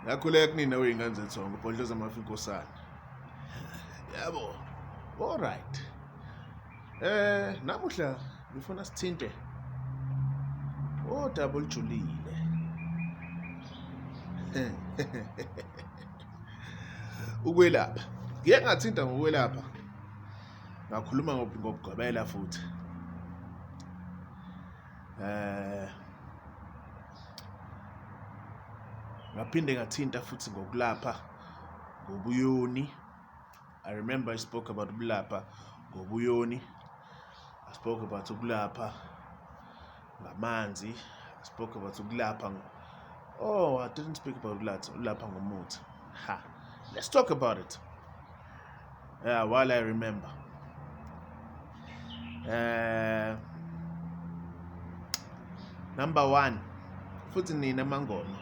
Ngakhuleka kunina wey'ngane zethongo, ubhodloza amafi inkosana. Yabo, all right. Eh, namuhla ngifuna sithinte odaba olujulile. Ukwelapha. Ngike ngathinta ngokwelapha. Ngakhuluma ngokugqwebela futhi. Eh Ngaphinde ngathinta futhi ngokulapha ngobuyoni. I remember I spoke about ukulapha ngobuyoni. I spoke about ukulapha ngamanzi. I spoke about ukulapha. Oh, I didn't speak about ukulapha ngomuthi. Ha. Let's talk about it. Yeah, while I remember. Uh, number one futhi nina amangoma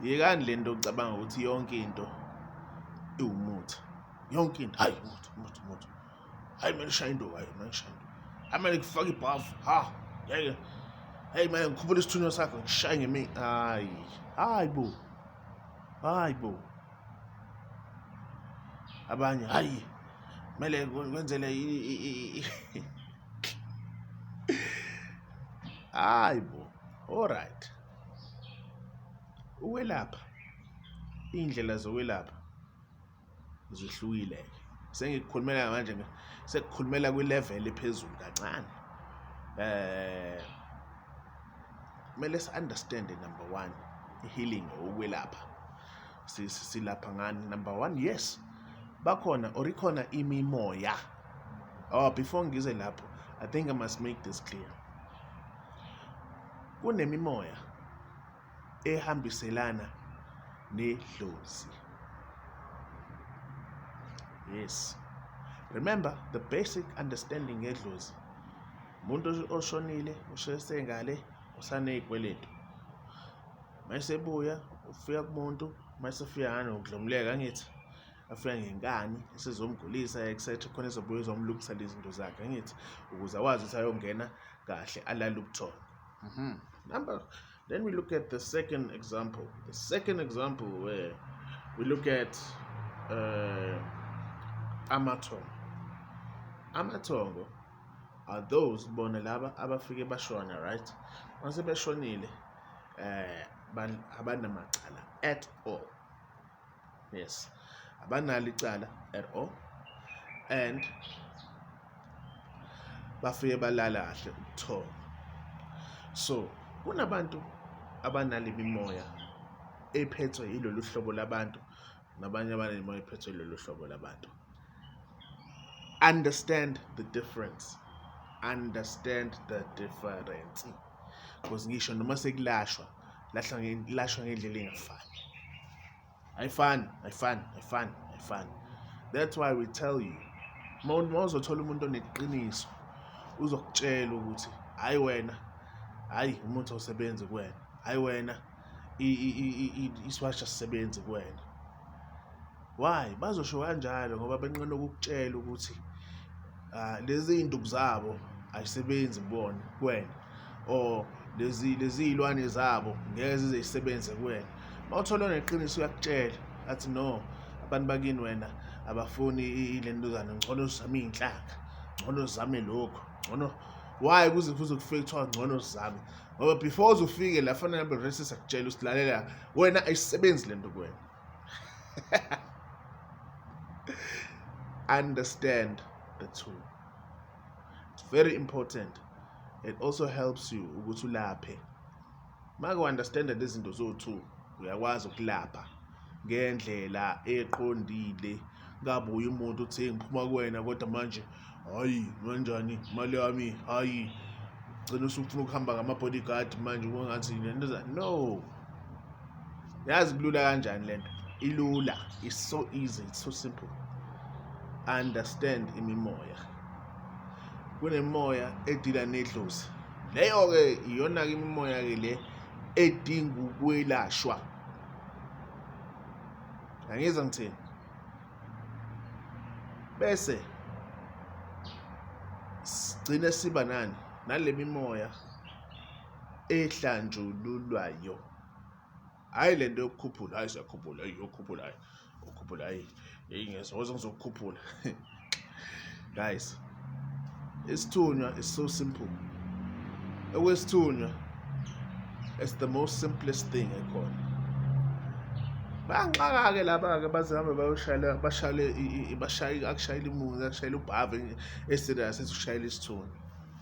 yekani le nto ocabanga ukuthi yonke into iwumuthi yonke into hayi umuthi umuthi umuthi hayi kumele ushaye into hayi kumele ushaye into hayi kumele kufake ibhavu ha yeke hayi manje ngikhuphula isithunywa sakho ngishaye ngemi hayi hayi bo hayi bo abanye hayi kumele kwenzele hayi bo alright ukwelapha iy'ndlela zokwelapha zihlukile sengikukhulumela manje sekukhulumela kwi-level ephezulu kancane eh kumele si-understande number one i-healing ukwelapha silapha ngani number one yes bakhona or ikhona imimoya oh before ngize lapho i think i must make this clear kunemimoya ehambiselana nedlozi yes remember the basic understanding ngedlozi umuntu oshonile ushesengale usaney'kweletu mayesebuya ufika kumuntu mayesefika ngani ngokudlomuleka angithi afika ngenkani esizomgulisa etc khona ezobuya ezomlungisela izinto zakhe angithi ukuze akwazi ukuthi ayongena kahle alale ubuthongo mhm. number then we look at the second example the second example where we look at uh, amathongo amathongo are those bona laba abafike bashona right mase beshonile eh abanamacala at all yes abanalo icala at all and bafike balala kahle ubuthongo so kunabantu abanale mimoya ephethwe yilolu hlobo labantu nabanye abanemimoya ephethwe yilolu hlobo labantu understand the difference understand the difference because ngisho noma sekulashwa lahlwa lashwa ngendlela engafani ayifani ayifani ayifani ayifani that's why we tell you uma uzothola umuntu oneqiniso uzokutshela ukuthi hayi wena hayi umuntu awusebenzi kuwena hayi wena isiwasha sisebenzi kuwena Why? Bazosho kanjalo ngoba benqena ukukutshela ukuthi ah, lezi iy'nduku zabo ayisebenzi kubona kuwena or lezi lezi iy'lwane zabo ngeke zize zisebenze kuwena uma uthola neqiniso uyakutshela athi no abantu bakini wena abafuni ilentuzana ngcono zame iy'nhlanga ngcono zame lokhu ngcono why kuze kuze kufike kuthiwa ngcono zame ngoba before uze ufike la fanele abe resi sakutshela usilalela wena ayisebenzi lento kuwena understand the two it's very important it also helps you ukuthi ulaphe make u-understanda lezi zinto zowu-two Uyakwazi ukulapha ngendlela eqondile kabuye umuntu uthi ngiphuma kuwena kodwa manje hayi kanjani imali yami hayi gcina usufuna ukuhamba ngama-bodyguard manje kungathi lento no yazi kulula kanjani le nto ilula is so easy it's so simple understand imimoya kunemoya edila nedlozi leyo-ke iyona-ke imimoya-ke le edinga ukwelashwa angiyeza ngithini bese sigcine siba nani nale mimoya ehlanjululwayo hhayi le nto yokukhuphula hhayi siyakhuphula hhayi yokukhuphula hhayi ukhuphula ayi yeyi ngiyasokoza ngizokukhuphula guys isithunywa is so simple okwesithunywa it's the most simplest thing ekhona bayanxaka-ke laba-ke baze hambe bayoshayela bashayele bashayile akushayela imuzi akushayela ubhave eserious esushayela isithunywa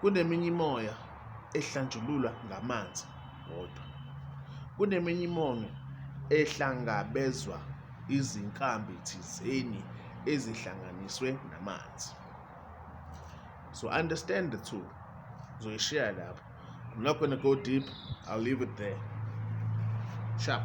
Kuneminye imimoya ehlanjululwa ngamanzi wodwa. Kuneminye imimoya ehlangabezwa izinkambi thizeni ezihlanganiswe namanzi. So understand the two. Zoyishiya lapho. I'm not going to go deep. I'll leave it there. Sharp.